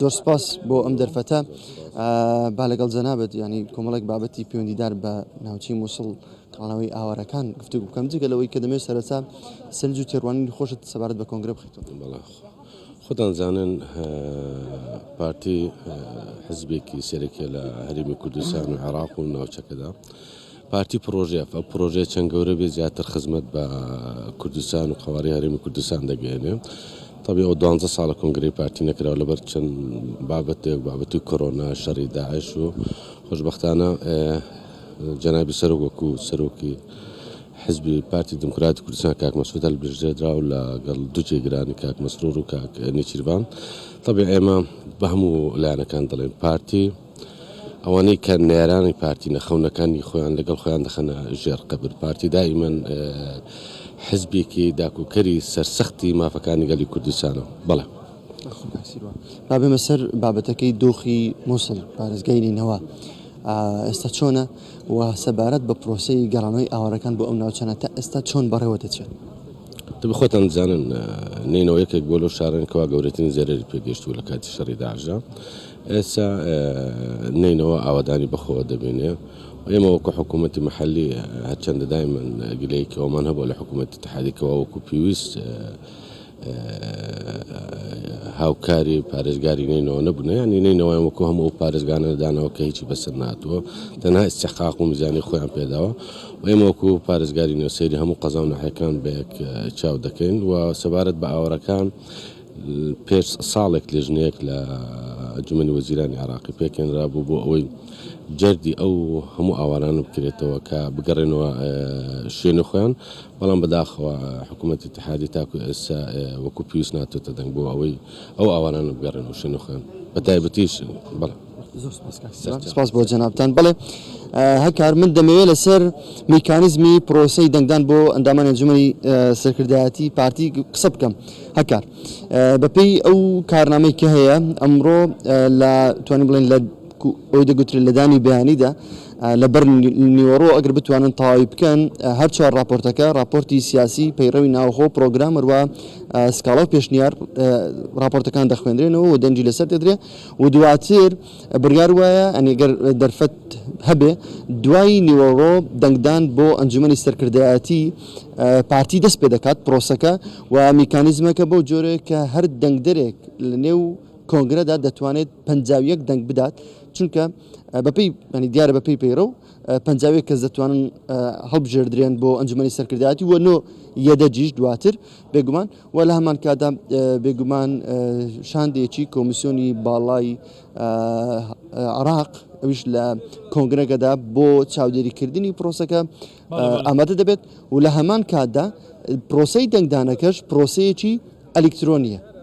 زۆر سپاس بۆ ئەم دەرفەتە با لەگەڵ جەنابەت ینی کۆمەڵێک بابەتی پەیوەندیدار بە ناوچی مووسڵ کاڵەوەی ئاوارەکان گفتو بکەم جگە لەوەی کە دەمێت سەرەتا سنج و تێڕوانین خۆشت سەبارەت بە کۆنگرە بخیتەوە خۆتان زانن پارتی حزبێکی سەرەکە لە هەرمی کوردستان و عێراق و ناوچەکەدا. پارتی پڕۆژەیە، با پڕۆژەیە چەند گەورە بێت زیاتر خزمەت بە کوردستان و قەوارەی هەرێمی کوردستان دەگەیەنێ. تەبعی ئەوە دوانزە ساڵە کۆنگرەی پارتی نەکراوە لەبەر چەند بابەتێک، بابەتی کۆرۆنا، شەڕی داعش و خۆشبەختانە جەنابی سەرۆک وەکوو سەرۆکی حزبی پارتی دیموکراتی کوردستان کاک مەسعود هەڵبژێردرا و لەگەڵ دوو جێگرانی کاک مەسرور و کاک نێچیرڤان تەبعی ئێمە بە هەموو لایەنەکان دەڵێین پارتی ئەوانەی کە نەیارانی پارتی نە خەونەکانی خۆیان لەگەڵ خۆیان دەخەنە ژێر قەبر. پارتی دائیمەن حزبێکی داکوکەری سەرسەختی مافەکانی گەلی کوردستانە. بەڵێ. با بێمە سەر بابەتەکەی دۆخی موسڵ، پارێزگای نینەوا ئێستا چۆنە و سەبارەت بە پرۆسەی گەڕانەوەی ئاوارەکان بۆ ئەو ناوچانە تا ئێستا چۆن بەڕێوە دەچێت؟ دەبێت خۆتان بزانن نینەوە یەکێک بووە لەو شارانەی کەوا گەورەترین زەرەری پێگەیشتووە لە کاتی شەڕی داعشدا. ئێستا نەینەوا ئاوەدانی بەخۆوە دەبینێ و ئێمە وەکو حکوومەتی مەحەللی هەرچەندە دایمەن گلەیەکی ئەومان هەبووە لە حکوومەتی ئیتحادی کە وا وەکو پێویست هاوکاری و پارێزگاری نەینەوا نەبوونە یانی نەینەوایان وەکو هەموو ئەو پارێزگانە دانەوە کە هیچی بەسەر نهاتووە تەنها ئیستحقاق و میزانی خۆیان پێ داوە و ئێمە وەکو پارێزگاری نوێ سەیری هەموو قەزا و ناحیەکان بە یەک چاو دەکەین و سەبارەت بە ئاوەرەکان پێش ساڵێک لێژنەیەک لە ئەنجومەنی وەزیرانی عێراقی پێکهێنرابوو بۆ ئەوەی جەردی ئەو هەموو ئاوارانە بکرێتەوە کە بگەڕێنەوە شوێنی خۆیان، بەڵام بەداخەوە حکوومەتی ئیتیحادی تاکو ئێستا وەکو پێویست ناتۆتە دەنگ بۆ ئەوەی ئەو ئاوارانە بگەڕێنەوە شوێنی خۆیان بەتایبەتیش. زۆر سپاس کاک سیروان سپاس بۆ جەنابتان بەڵێ هەکار من دەمەوێت لەسەر میکانیزمی پرۆسی دەنگدان بۆ ئەندامان ئەنجومەی سەرکردایەتی پارتی قسە بکەم هەکار بەپێی ئەو کارنامەی کە هەیە ئەمڕۆ لە توانین بڵێن لە ئەوی دەگوترێت لەدانی بەیانیدا لەبەر نیوەڕۆ ئەگەر بتوانن تەواوی بکەن هەر چوار راپۆرتەکە راپۆرتی سیاسی پەیڕەوی ناوخۆ پرۆگرامەروە سکاڵاو پێشنیار راپۆرتەکان دەخوێنرێنەوە و دەنجی لەسەر دەدرێت و دواتر بڕیار وایە گەر دەرفەت هەبێ دوای نیوەڕۆ دەنگدان بۆ ئەنجومەنی سەرکردایەتی پارتی دەست پێ دەکات پرۆسەکە و میکانیزمەکە بەو جۆرەیە کە هەر دەنگدەرێک لە نێو کۆنگرەدا دەتوانێت پەنجا و یەک دەنگ بدات چونکە بەپی دیارە بەپی پەیڕە و پەنجا و یەک کەس دەتوانن هەڵبژێردرێن بۆ ئەنجومەنی سەرکردایەتی و نۆ یەدەجیش دواتر بێگومان و لە هەمانکاتدا بێگومان شاندێکی کۆمیسیۆنی باڵای عراق ئەویش لە کۆنگرەکەدا بۆ چاودێریکردنی پرۆسەکە ئامادە دەبێت و لە هەمان کاتدا پرۆسی دەنگدانەکەش پرۆسەیەکی ئەلکترۆنیە